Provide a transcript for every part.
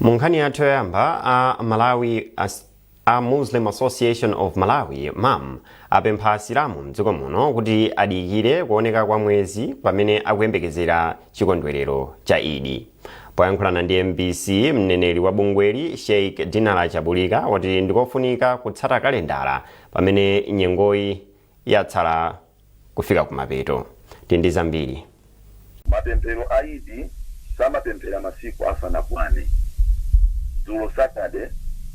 mu nkhani yathu yoyamba a muslim association of malawi mam apempha asilamu mdziko muno kuti adikire kuoneka kwa mwezi pamene akuyembekezera chikondwerero cha idi poyankhulana ndi mbc mneneri wa bungweli sheikh dinala chabulika wati ndikofunika kutsata kalendala pamene nyengoyi yatsala kufika kumapeto. Tili ndi zambiri. Mapemphero a Idi samapemphera masiku asanakwane. Dzulo Saturday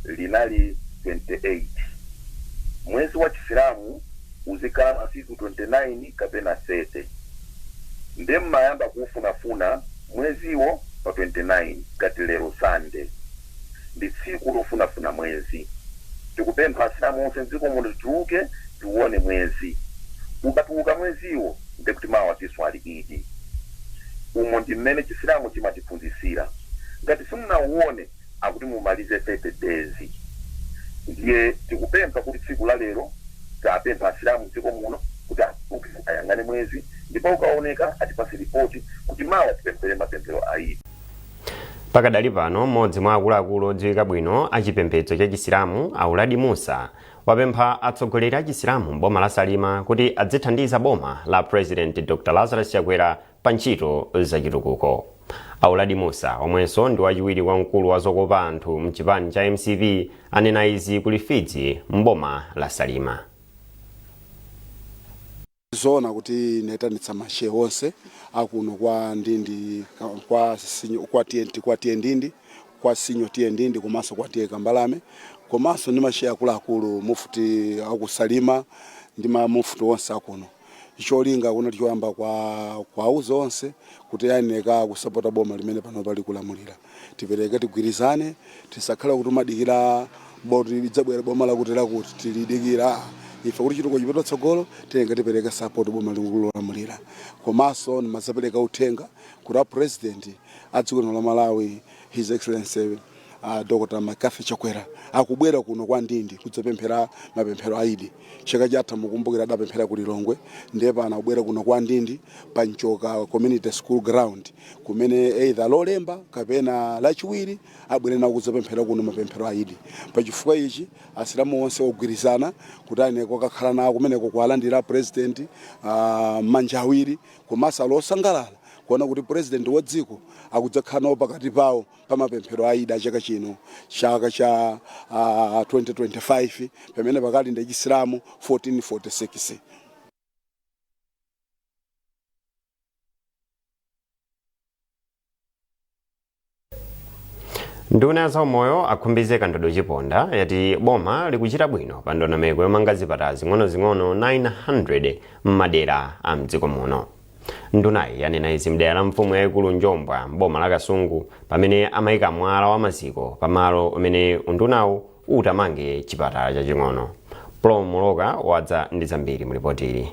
linali 28. Mwezi wa Chisilamu uzikhala masiku 29 kapena 30. Nde mmayamba kuufunafuna mweziwo pa 29 ngati lero Sunday. ndi tsiku lofunafuna mwezi. Tikupempha asilamu onse mdziko muno tituluke tiuone mwezi. Ukatuluka mweziwo ndiye kuti mawa tiswali Idi. Umo ndi mmene chisilamu chimatiphunzitsira. Ngati simunauone akuti mumalize 30 days. Ndiye tikupempha kuti tsiku la lero tapempha asilamu mdziko muno kuti atuluke ayang'ane mwezi ndipo ukaoneka atipatse report kuti mawa tipemphere mapemphero a Idi. Pakadali pano, m'modzi mwa akuluakulu odziwika bwino a chipembedzo cha chisilamu, a Uladi Mussa, wapempha atsogoleri a chisilamu m'boma la Salima kuti adzithandiza boma la President Dr Lazarus Chakwera pa ntchito za chitukuko. A Uladi Mussa, omwenso ndi wachiwiri kwa mkulu wa zokopa anthu m'chipani cha mcp, anena izi ku Lifidzi m'boma la Salima. N'zoona kuti ndinaitanitsa ma Shehe onse a kuno kwa Ndindi, kwa Senior, kwa TA Ndindi, kwa Senior TA Ndindi komanso kwa TA Kambalame komanso ndi ma Shehe akuluakulu Mufti a ku Salima ndi ma Mufti onse a kuno. Cholinga kunali choyamba kwa, kuwauza onse kuti ayenera kusapota boma limene panopa likulamulira. tipereke tigwirizane tisakhale kuti kumadikira poti lidzabwera boma lakuti lakuti tilidikira ife kuti chitukuko chipite patsogolo tiyenera tipereke support boma likulamulira komanso ndimazapereka uthenga kuti a president a dziko lino la malawi his excellency uh, dr mccarthy chakwera akubwera kuno kwa ndindi kudzapemphera mapemphero a idi chaka chatha mukumbukira adapemphera ku lilongwe ndiye pano akubwera kuno kwa ndindi pa mchoka community school ground kumene either lolemba kapena lachiwiri abwere nawo kudzapemphera kuno mapemphero a idi pa chifukwa ichi asilamu onse ogwirizana kuti ayenera kukakhala nawo kumeneko kuwalandira president mmanja awiri komanso ali osangalala kuona kuti president wa dziko akudzakhala nawo pakati pawo pa mapemphero a Idi chaka chino chaka cha ah, 2025 pamene pakali ndi chisilamu 1446 nduna ya zaumoyo akhumbize kandodo chiponda yati boma likuchita bwino pa ndondomeko yomanga zipatala zing'onozing'ono 900 m'madera a mdziko muno Ndunayi yanena izi mdera la mfumu yayikulu Njombwa m'boma la Kasungu pamene amayika mwala wa maziko pa malo omwe undunawu utamange chipatala chaching'ono. Paul Muloka wadza ndi zambiri mu lipoti ili.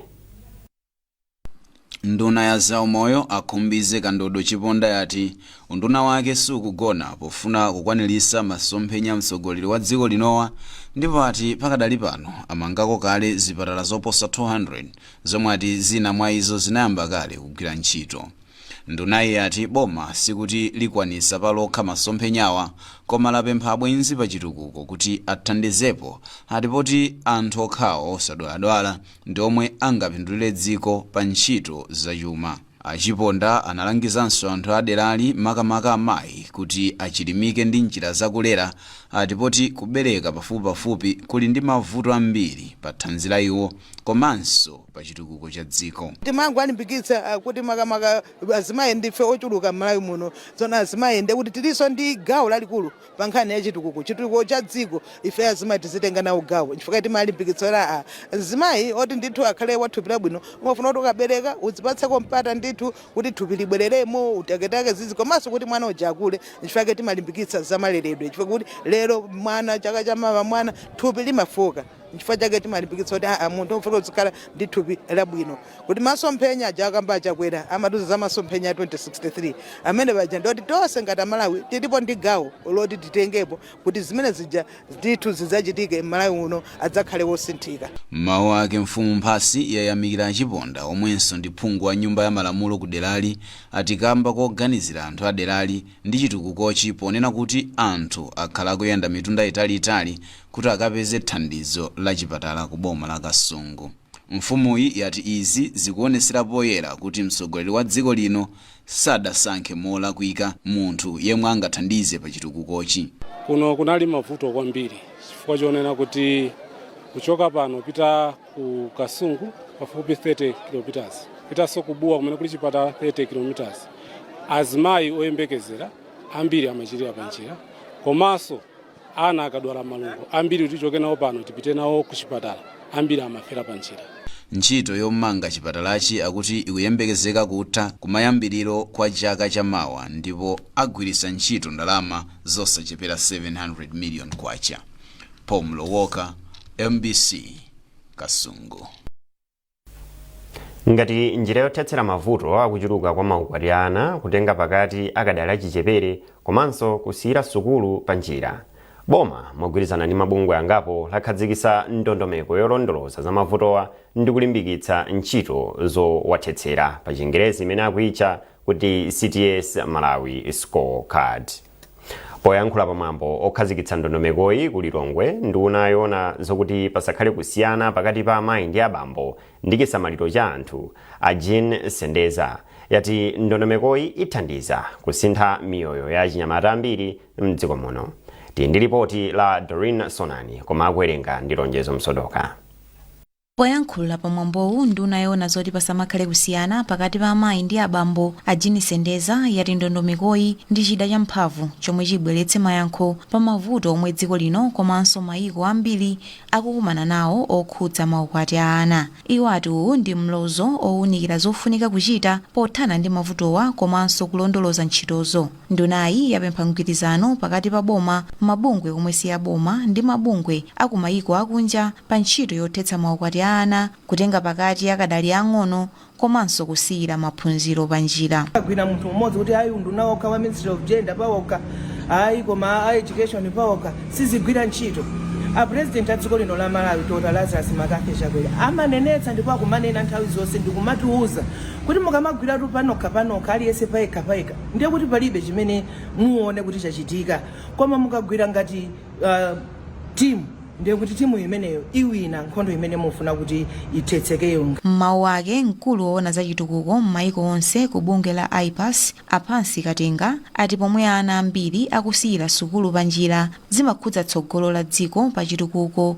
Nduna ya zaumoyo a Khumbize Kandodo Chiponda yati unduna wake sukugona pofuna kukwanilisa masomphenya a mtsogoleri wa dziko linowa ndipo ati pakadali pano amangako kale zipatala zoposa 200 zomwe ati zina mwa izo zinayamba kale kugwira ntchito. Ndunayi yati boma sikuti likwanisa pa lokha masomphenyawa koma lapempha abwenzi pa chitukuko kuti athandizepo ati poti anthu okhawo osadwaladwala ndi omwe angapindulire dziko pa ntchito za chuma. A Chiponda analangizanso anthu a derali makamaka amayi kuti achilimike ndi njira za kulera ati poti kubereka pafupipafupi kuli ndi mavuto ambiri pa thanzi la iwo komanso pa chitukuko cha dziko. Timangowalimbikitsa kuti makamaka azimayi ndife ochuluka m'Malawi muno, tsono azimayi ndekuti tilinso ndi gawo lalikulu pa nkhani ya chitukuko chitukuko cha dziko ife azimayi tizitenga nawo gawo chifukwa timalimbikitsa kuti aa mzimayi woti ndithu akhale wa thupi labwino umafuna kuti ukabereka uzipatseko mpata ndithu kuti thupi libwereremo utaketake zizi komanso kuti mwana uja akule chifukwa ke timalimbikitsa za maleredwe chifukwa kuti lero mwana chaka cha mawa mwana thupi limafoka chifukwa chake timalimbikitsa kuti aa munthu ufuna uzikhala ndi thupi labwino Kuti masomphenya aja akamba a Chakwera amatiuza za masomphenya a 2063 amene paja ndioti tonse ngati amalawi tilipo ndi gawo loti titengepo kuti zimene zija ndithu zidzachitike Malawi uno adzakhale wosinthika. M'mawu ake mfumu Mphasi yayamikira a Chiponda omwenso ndi phungu wa nyumba ya malamulo ku derali ati kamba koganizira anthu a derali ndi chitukukochi ponena kuti anthu akhala akuyenda mitunda itali itali kuti akapeze thandizo la chipatala ku boma la Kasungu. Mfumuyi yati izi zikuonesera poyera kuti mtsogoleri wa dziko lino sadasankhe molakwika munthu yemwe angathandize pa chitukukochi. Kuno kunali mavuto kwambiri chifukwa chonena kuti kuchoka pano pita ku Kasungu pafupi 30 km, pitanso ku Bua kumene kuli chipatala 30 km, azimayi oyembekezera ambiri amachirira panjira komanso ana akadwala malungo ambiri kuti tichoke nawo pano tipite nawo ku chipatala ambiri amafera pa njira Ntchito yomanga chipatalachi akuti ikuyembekezeka kutha kumayambiriro kwa chaka cha mawa ndipo agwiritsa ntchito ndalama zosachepera 700 million kwacha. Paul Mlowoka, mbc, Kasungu. ngati njira yothetsera mavuto akuchuluka kwa maukwati a ana kutenga pakati akadali achichepere komanso kusiyira sukulu pa njira boma mogwirizana ndi mabungwe angapo lakhazikitsa ndondomeko yolondoloza za mavutowa ndi kulimbikitsa ntchito zowathetsera pa chingerezi imene akuitcha kuti cts malawi score card poyankhula pamwambo okhazikitsa ndondomekoyi ku lilongwe nduna yoona zokuti pasakhale kusiyana pakati pa amayi ndi abambo ndi chisamaliro cha anthu a jean sendeza yati ndondomekoyi ithandiza kusintha miyoyo ya achinyamata ambiri mdziko muno tili ndi lipoti la doreen sonani koma akuwerenga ndi lonjezo msodoka Poyankhula pa mwambowu nduna yoona zoti pasamakhale kusiyana pakati pa amayi ndi abambo a Jean Sendeza yati ndondomekoyi ndi chida cha mphamvu chomwe chibweretse mayankho pa mavuto omwe dziko lino komanso mayiko ambiri akukumana nawo okhudza maukwati a ana. Iwo ati uwu ndi mlozo owunikira zofunika kuchita pothana ndi mavutowa komanso kulondoloza ntchitozo. Ndunayi yapempha mgwirizano pakati pa boma, mabungwe omwe si aboma ndi mabungwe a ku mayiko akunja pa ntchito yothetsa maukwati a ana, kutenga pakati akadali aang'ono komanso kusiyira maphunziro panjira. Sagwira munthu mmodzi kuti ayi unduna wokha wa Ministry of Gender pawokha ayi koma a Education pawokha sizigwira ntchito. A President a dziko lino la Malawi Dr Lazarus McCarthy Chakwera amanenetsa ndipo akumanena nthawi zonse ndikumatiuza kuti mukamagwiratu panokha panokha aliyense payekha payekha, ndiye kuti palibe chimene muone kuti chachitika koma mukagwira ngati uh, timu ndiye kuti timu imeneyo iwina nkhondo imene mufuna kuti ithetsekeyo M'mawu ake mkulu woona za chitukuko m'mayiko onse ku bungwe la IPAS a Pansi Katenga ati pomwe ana ambiri akusiyira sukulu panjira zimakhudza tsogolo la dziko pa chitukuko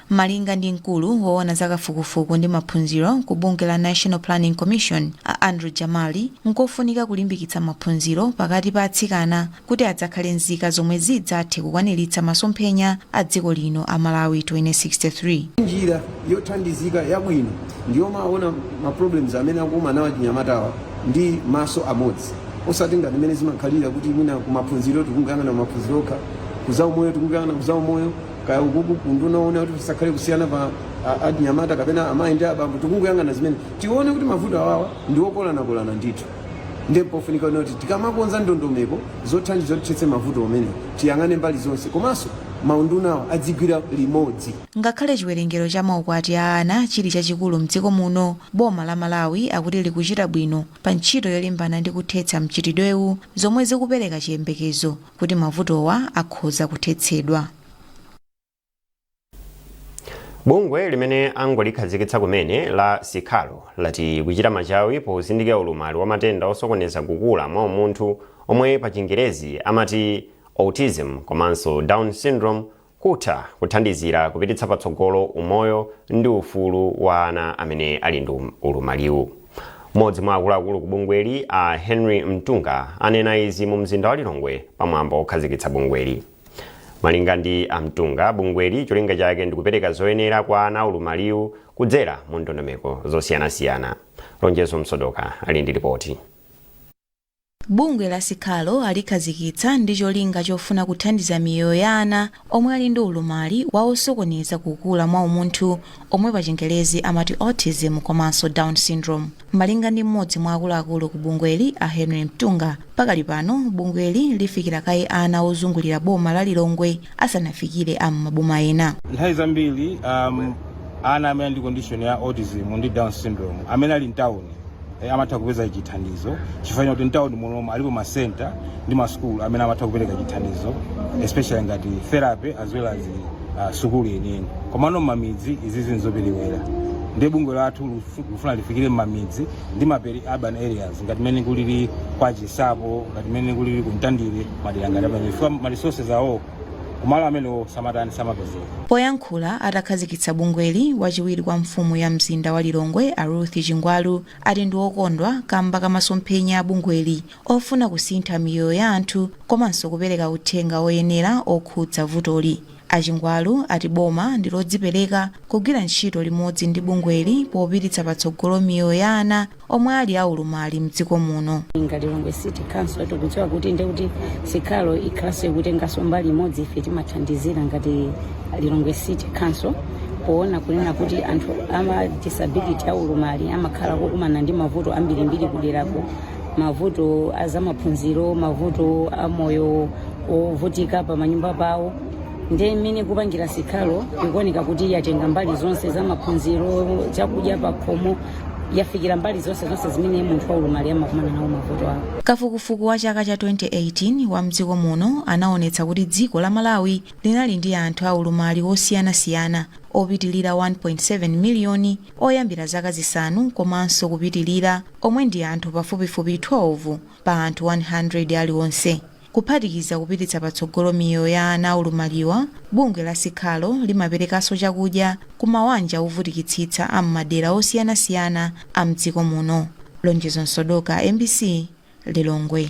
Malinga ndi mkulu woona za kafukufuku ndi maphunziro ku bungwe la National Planning Commission a Andrew Jamali, nkofunika kulimbikitsa maphunziro pakati pa atsikana kuti adzakhale nzika zomwe zidzathe kukwaniritsa masomphenya a dziko lino a Malawi 2063. Njira yothandizika yabwino ndiyomawona ma problems amene akukumana nawo achinyamatawa ndi maso amodzi osati ngati mmene zimakhalira kuti mwina kumaphunziro tikungoyang'ana kumaphunziro okha, ku zaumoyo tikungoyang'ana ku zaumoyo. kaya ukuku kuunduna woona kuti pasakhale kusiyana pa a- achinyamata kapena amayi ndi abambo tikungoyang'ana zimene tione kuti mavuto awawa ndi okolanakolana ndithu ndiye pofunika kunena kuti tikamakonza ndondomeko zothandiza kuti tithetse mavuto omene tiyang'ane mbali zonse komanso maundunawa adzigwira limodzi ngakhale chiwerengero cha maukwati a ana chili chachikulu mdziko muno boma la malawi akuti likuchita bwino pa ntchito yolimbana ndi kuthetsa mchitidwewu zomwe zikupereka chiyembekezo kuti mavutowa akhoza kuthetsedwa. Bungwe limene angolikhazikitsa kumene la Siqalo lati kuchita machawi pozindikira ulumali wa matenda osokoneza kukula mwa umunthu omwe pa chingerezi amati autism komanso Down syndrome kutha kuthandizira kupititsa patsogolo umoyo ndi ufulu wa ana amene ali ndi ulumaliwu. Mmodzi mwa akuluakulu ku bungweli a Henry Mtunga anena izi mu mzinda wa Lilongwe pa mwambo okhazikitsa bungweli. Malinga ndi a Mtunga, bungweli cholinga chake ndikupereka zoyenera kwa ana aulumaliwu kudzera mu ndondomeko zosiyanasiyana. Lonjezo Msodoka ali ndi lipoti. Bungwe la Siqalo alikhazikitsa ndi cholinga chofuna kuthandiza miyoyo ya ana omwe ali ndi ulumali wa osokoneza kukula mwa umunthu omwe pa chingerezi amati Autism komanso Down Syndrome. Malinga ndi m'modzi mwa akuluakulu ku bungweli a Henry Mtunga, pakali pano bungweli lifikira kaye ana ozungulira boma la Lilongwe asanafikire a m'maboma ena nthawi zambiri um, ana amene ali ndi condition ya autism ndi down syndrome amene ali mtawuni eh, amatha kupeza chithandizo chifukwa chakuti mtawuni munomu alipo masenta ndi masukulu amene amatha kupereka chithandizo especially ngati therapy as well as uh, sukulu yeniyeni komano mmamidzi izi nzoperewera ndiye bungwe lathu likufuna lifikire mmamidzi ndi ma peri-urban areas ngati mmene kulili kwa Chinsapo ngati mmene kulili ku Mtandire madera ngati amenewo chifukwa ma resources awo kumalo amenewo samatani samapezeka Poyankhula atakhazikitsa bungweli, wachiwiri kwa mfumu ya mzinda wa Lilongwe a Ruth Chingwalu ati ndi okondwa kamba ka masomphenya a bungweli ofuna kusintha miyoyo ya anthu komanso kupereka uthenga oyenera okhudza vutoli. A Chingwalu ati boma ndi lodzipereka kugwira ntchito limodzi ndi bungweli popititsa patsogolo miyoyo ya ana omwe ali a ulumali mdziko muno. Ngati Lilongwe City Council tikudziwa kuti ndiye kuti Siqalo ikhalanso ikutenganso mbali imodzi ife timathandizira ngati Lilongwe City Council poona kunena kuti anthu ama disability a ulumali amakhala kukumana ndi mavuto ambirimbiri kuderako mavuto a zamaphunziro mavuto a moyo ovutika pa manyumba pawo nde mmene ikupangira sikhalo ikuoneka kuti yatenga mbali zonse za maphunziro chakudya pakhomo yafikira mbali zonse zonse zimene munthu waulumali amakumana nawo mavuto awo kafukufuku wa chaka cha 2018 wa mdziko muno anaonetsa kuti dziko la malawi linali ndi anthu aulumali osiyanasiyana opitilira 1.7 miliyoni oyambira zaka zisanu komanso kupitirira, omwe ndi anthu pafupifupi 12 pa anthu 100 alionse. Kuphatikiza kupititsa patsogolo miyoyo ya ana aulumaliwa, bungwe la Siqalo limaperekanso chakudya ku mawanja ovutikitsitsa a m'madera osiyanasiyana a mdziko muno. Lonjezo Msodoka, mbc, Lilongwe.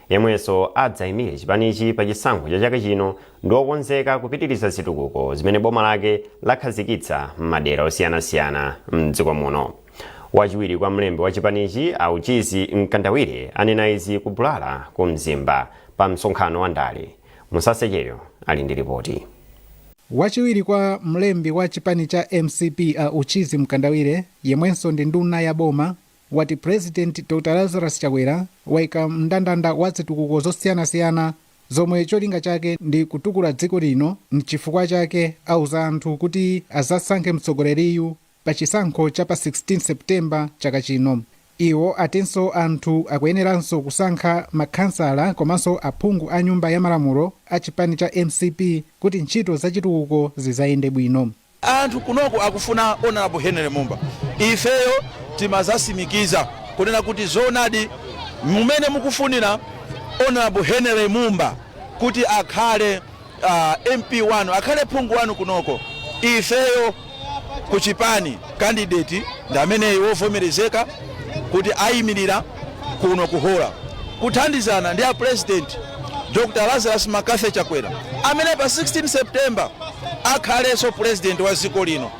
Yemwenso adzaimire chipanichi pa chisankho cha chaka chino ndi wokonzeka kupitiriza zitukuko zimene boma lake lakhazikitsa m'madera osiyanasiyana m'dziko muno. Wachiwiri kwa mlembi wa chipanichi a Uchizi Mkandawire anena izi ku Bulala ku Mzimba pa msonkhano wa ndale. Musase Cheyo ali ndi lipoti. Wachiwiri kwa mlembi wa chipani cha mcp a Uchizi Mkandawire yemwenso ndi nduna ya boma wati President Dr Lazarus Chakwera waika mndandanda wa zitukuko zosiyanasiyana zomwe cholinga chake ndi kutukula dziko lino n'chifukwa chake auza anthu kuti azasankhe mtsogoleriyu pa chisankho cha pa 16 September chaka chino. Iwo atinso anthu akuyeneranso kusankha ma khansala komanso aphungu a nyumba ya malamulo a chipani cha mcp kuti ntchito za chitukuko zizayende bwino. Anthu kunoko akufuna Honourable Henry Mumba. Ifeyo timazasimikiza kunena kuti zoonadi mumene mukufunira Honourable Henry Mumba kuti akhale MP wanu, akhale phungu wanu kunoko, ifeyo kuchipani candidate ndi ameneyu wovomerezeka kuti ayimirira. kuno ku hora kuthandizana ndi a president dr lazarus mccarthy chakwera amene pa 16 september akhalenso president wa dziko lino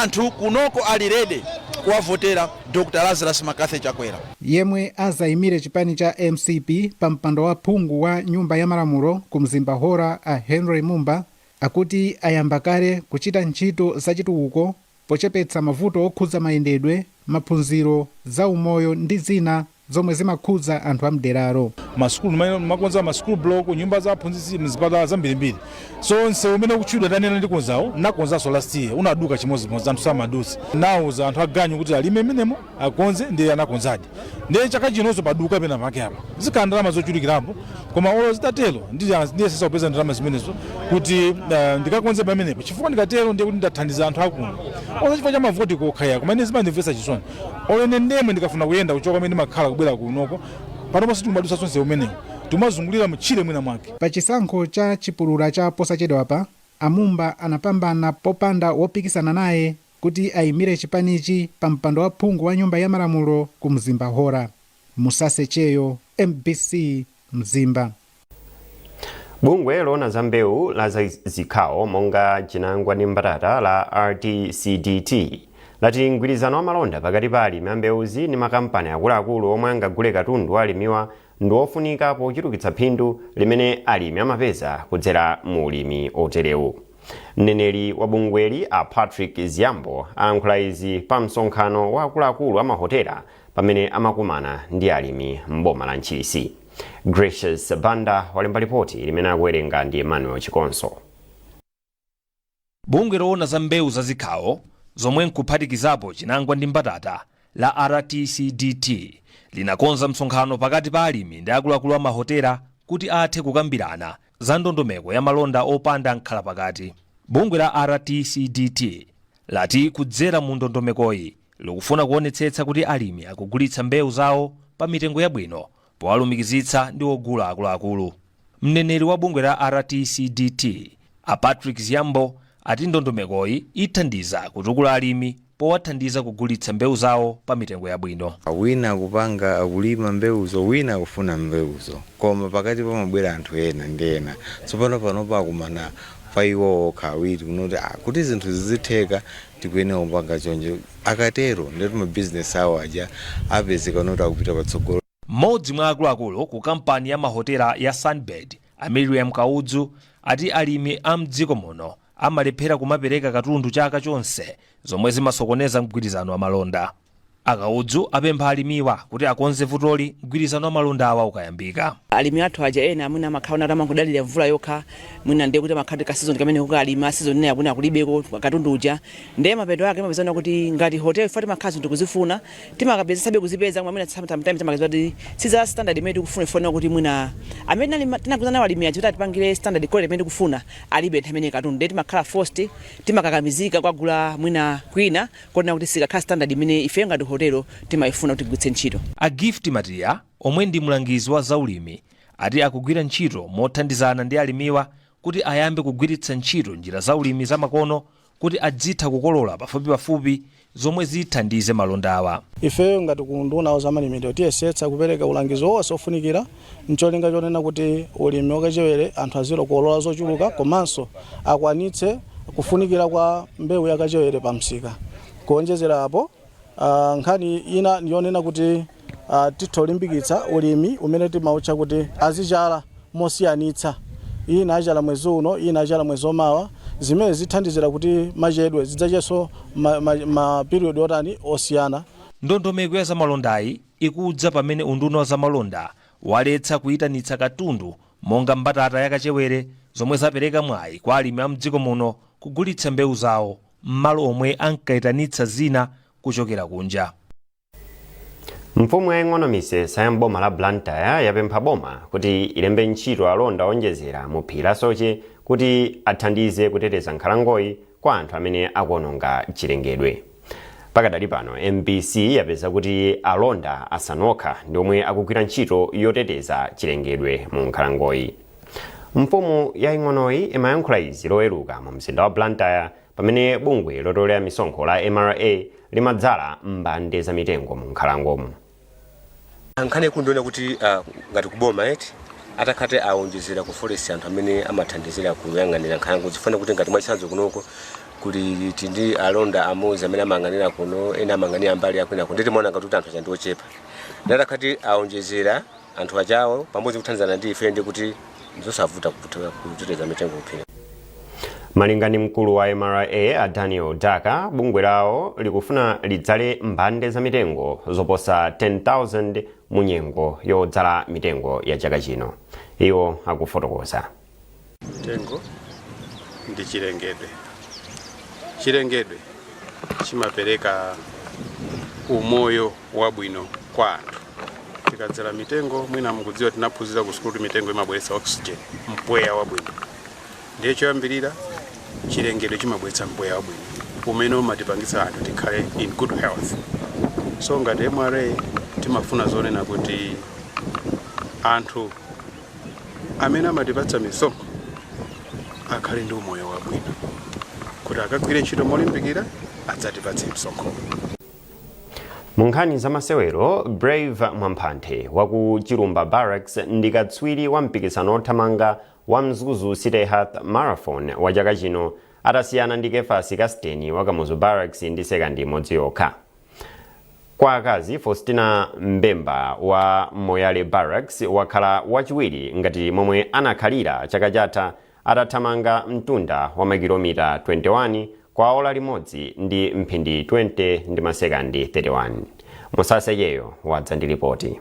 anthu kunoko ali ready kuwavotera dr lazarus mccarthy chakwera yemwe azayimire chipani cha mcp pa mpando wa phungu wa nyumba ya malamulo ku mzimba hora a henry mumba akuti ayamba kale kuchita ntchito zachitukuko pochepetsa mavuto okhudza mayendedwe, maphunziro, za umoyo ndi zina zomwe zimakhudza anthu a mderalo. ma sukulu ndimakonza ma school block, nyumba za aphunzitsi, mzipatala zambirimbiri. So msewu umene ukutchulidwa wanena ndikonzawo, nnakonzanso last year, unaduka chimodzimodzi, anthu samadutsa. Nnauza anthu aganyu kuti alime mmenemo. akonze ndiye anakonzadi ndiye chaka chinonso paduka penapake apa zikhala ndalama zochulukirapo koma olo zitatero ndi- ndiyesetsa kupeza ndalama zimenezo kuti eh, ndikakonze pamenepo chifukwa ndikatero ndiye kuti ndathandiza anthu akuno olo chifukwa cha mavoti kokhaya koma ine zimandimvetsa chisoni olo ine ndemwe ndikafuna kuyenda kuchoka kumene ndimakhala kubwera kunoko panopo sitikumadutsa nsewu umenewu tikumazungulira mtchire mwina mwake pa chisankho cha chipulula cha posachedwapa a mumba anapambana popanda wopikisana naye kuti ayimire chipanichi pa mpando wa phungu wa nyumba ya malamulo ku Mzimba Hora. Musase Cheyo, mbc, Mzimba. Bungwe loona za mbewu la zikhawo monga chinangwa ndi mbatata la RTCDT lati mgwirizano wa malonda pakati pa alimi a mbewuzi ndi makampani akuluakulu omwe angagule katundu wa alimiwa ndi wofunika pochulukitsa phindu limene alimi amapeza kudzera mu ulimi oterewu. mneneri wa bungweli a patrick ziyambo alankhula izi pa msonkhano wa akuluakulu a mahotela pamene amakumana ndi alimi m'boma la ntchisi gracious banda walemba lipoti limene akuwerenga ndi emmanuel chikonso bungwe loona za mbewu za zikhawo zomwe nkuphatikizapo chinangwa ndi mbatata la rtcdt linakonza msonkhano pakati pa alimi ndi akuluakulu a mahotela kuti athe kukambirana za ndondomeko ya malonda opanda amkhalapakati, bungwe la RTCDT lati kudzera mu ndondomekoyi likufuna kuonetsetsa kuti alimi akugulitsa mbewu zawo pa mitengo yabwino powalumikizitsa ndi ogula akuluakulu. Mneneri wa bungwe la RTCDT a Patrick Ziyambo ati ndondomekoyi ithandiza kutukula alimi powathandiza kugulitsa mbewu zawo pa mitengo yabwino. Wina akupanga, akulima mbewuzo, wina akufuna mbewuzo. Koma pakati pamabwera anthu ena ndi ena. Tsopano panopa akumana pa iwo okha awiri kunena kuti, ah, kuti zinthu zizitheka tikuyenera kupanga chonchi. Akatero ndiye kuti mabizinesi awo aja apezeka noti akupita patsogolo. M'modzi mwa akuluakulu ku kampani ya mahotela ya Sunbird, a Mirriam Kaudzu, ati alimi a m'dziko muno amalephera kumapereka katundu chaka chonse zomwe zimasokoneza mgwirizano wa malonda. A Kaudzu apempha alimiwa kuti akonze vutoli mgwirizano wa malondawa ukayambika. Alimi athu aja ena mwina amakhala kuti amangodalira mvula yokha, mwina ndiye kuti amakhala kuti ka season kameneko akalima, season inayo mwina kulibeko katundu uja, ndiye mapeto ake imapezana kuti ngati hotel chifukwa timakhala zinthu tikuzifuna, timakayesetsabe kuzipeza koma mwina some- sometimes timakapeza kuti si za standard imene tikufuna ifanira kuti mwina amene tinali- tinagwirizana nawo alimi aja kuti atipangire standard quality imene tikufuna alibe nthawi imeneyo katundu ndiye timakhala forced timakakamizika kukagula mwina kwina konena kuti sikakhala standard imene ifeyo ngati hotelo timayifuna kuti tigwiritse ntchito a gift matiya omwe ndi mlangizi wa zaulimi ati akugwira ntchito mothandizana ndi alimiwa kuti ayambe kugwiritsa ntchito njira zaulimi zamakono kuti adzitha kukolola pafupipafupi zomwe zithandize malondawa. Ifeyo ngati ku unduna wa zamalimidwe tiyesetsa kupereka ulangizo wonse ofunikira ncholinga chonena kuti ulimi wakachewere anthu azikolola zochuluka komanso akwanitse kufunikira kwa mbewu ya kachewere pa msika. Kuonjezera apo. Ah, nkhani ina ndiyonena kuti ah, titha kulimbikitsa ulimi umene timautcha kuti azidzala mosiyanitsa ina adzala mwezi uno ina adzala mwezi omawa zimene zithandizira kuti machedwe zidzachenso mapiriyodi otani osiyana Ndondomeko ya zamalondayi ikudza pamene unduna wa zamalonda waletsa kuyitanitsa katundu monga mbatata ya kachewere zomwe zapereka mwayi kwa alimi a mdziko muno kugulitsa mbewu zawo m'malo omwe ankaitanitsa zina kuchokera kunja. Mfumu yaying'ono Misesa ya m'boma la Blantyre yapempha boma kuti ilembe ntchito alonda owonjezera mu phiri la Soche kuti athandize kuteteza nkhalangoyi kwa anthu amene akuononga chilengedwe. Pakadali pano, mbc yapeza kuti alonda asanu okha ndi omwe akugwira ntchito yoteteza chilengedwe mu nkhalangoyi. mfumu yaing'onoyi imayankhula izi loweruka mu mzinda wa blantyre pamene bungwe lotolera misonkho la mra limadzala mbande za mitengo mu nkhalangomo nkhani ndi yonena kuti ah, ngati kuboma eti atakhate awonjezera ku forest anthu amene amathandizira kuyang'anira nkhalango chifukwa kuti ngati mwachitsanzo kunoko kuli tindi alonda amodzi amene amayang'anira kuno ena amayang'anira mbali yakwinako nde timaona ngati kuti anthu ake ndi ochepa nde atakhati awonjezera Anthu achewo pamodzi kuthandizana ndi ife ndi kuti ndizosavuta kuputa- kuteteza mitengo kuphiri. Malinga ndi mkulu wa mra a Daniel Daka, bungwe lawo likufuna lidzale mbande za mitengo zoposa 10,000 mu nyengo yodzala mitengo ya chaka chino. Iwo akufotokoza. mtengo ndi chilengedwe chilengedwe chimapereka umoyo wabwino kwa anthu tikadzala mitengo mwina mukudziwa tinaphunzira ku sukulu kuti mitengo imabweretsa oxygen mpweya wabwino ndiye choyambirira chilengedwe chimabweretsa mpweya wabwino umene umatipangitsa anthu tikhale in good health so ngati mra timafuna zonena kuti anthu amene amatipatsa misonkho akhale ndi umoyo wabwino kuti akagwire ntchito molimbikira adzatipatse misonkho mu nkhani za masewero brave mwamphanthe wa ku chilumba barracks ndi katswiri wa mpikisano wothamanga wa mzuzu city half marathon wa chaka chino atasiyana ndi kefasi kasteni wa kamuzu barracks ndi sekandi imodzi yokha Kwa akazi, Faustina Mbemba wa Moyale Barracks wakhala wachiwiri ngati momwe anakhalira chaka chatha atathamanga mtunda wa makilomita 21 kwa ola limodzi ndi mphindi 20 ndi masekandi 31. Musase Cheyo wadza ndi lipoti.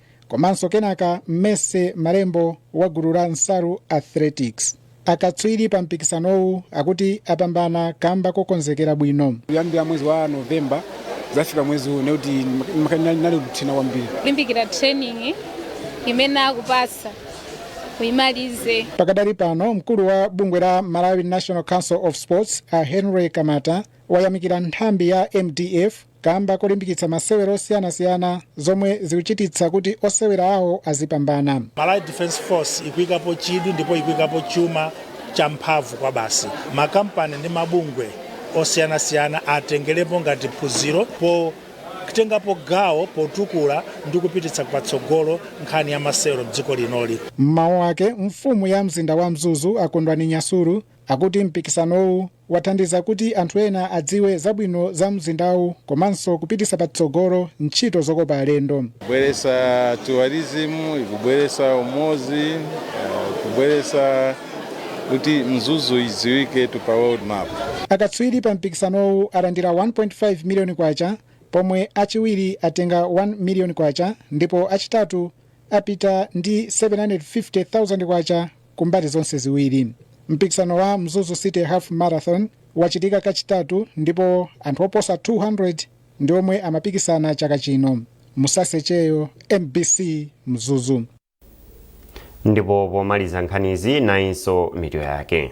komanso kenaka Mercy Malembo wa gulu la Nsaru Athletics. Akatswiri pa mpikisanowu akuti apambana kamba kokonzekera bwino. kuyambira mwezi wa novemba kuzafika mwezi uwu ndiye kuti ndinali kuthina kwambiri kulimbikira training imene akupasa kuimalize Pakadali pano mkulu wa bungwe la Malawi National Council of Sports a Henry Kamata wayamikira nthambi ya MDF kamba kolimbikitsa masewero osiyanasiyana zomwe zikuchititsa kuti osewera awo azipambana. Malawi Defence Force ikuikapo chidwi ndipo ikuikapo chuma cha mphamvu kwabasi. Makampani ndi mabungwe osiyanasiyana atengerepo ngati phunziro potengapo gawo potukula ndi kupititsa patsogolo nkhani ya masewero m'dziko linoli. M'mawu ake, mfumu ya mzinda wa Mzuzu a Kondwani Nyasulu akuti mpikisanowu wathandiza kuti anthu ena adziwe zabwino za mzindawu komanso kupititsa patsogolo ntchito zokopa alendo. kubweresa tourism ikubweresa umodzi uh, kubweresa kuti Mzuzu idziwiketu pa world map Akatswiri pa mpikisanowu alandira 1.5 miliyoni kwacha pomwe achiwiri atenga 1 miliyoni kwacha ndipo achitatu apita ndi 750,000 kwacha ku mbali zonse ziwiri. Mpikisano wa Mzuzu City Half Marathon wachitika kachitatu ndipo anthu oposa 200 ndi omwe amapikisana chaka chino. Musase Cheyo, MBC, Mzuzu. ndipo pomaliza nkhanizi nayinso mitu yake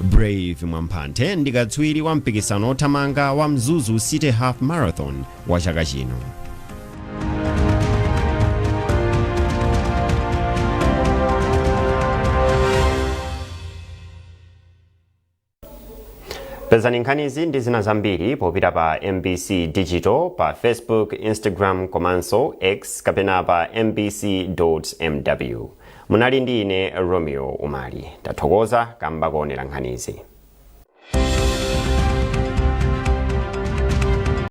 Brave Mwamphanthe ndi katswiri wa mpikisano othamanga wa Mzuzu City Half Marathon wa chaka chino pezani nkhanizi ndi zina zambiri popita pa MBC Digital pa Facebook Instagram komanso X kapena pa mbc.mw Munali ndi ine Romeo Umali. Tathokoza kamba koonera nkhanizi.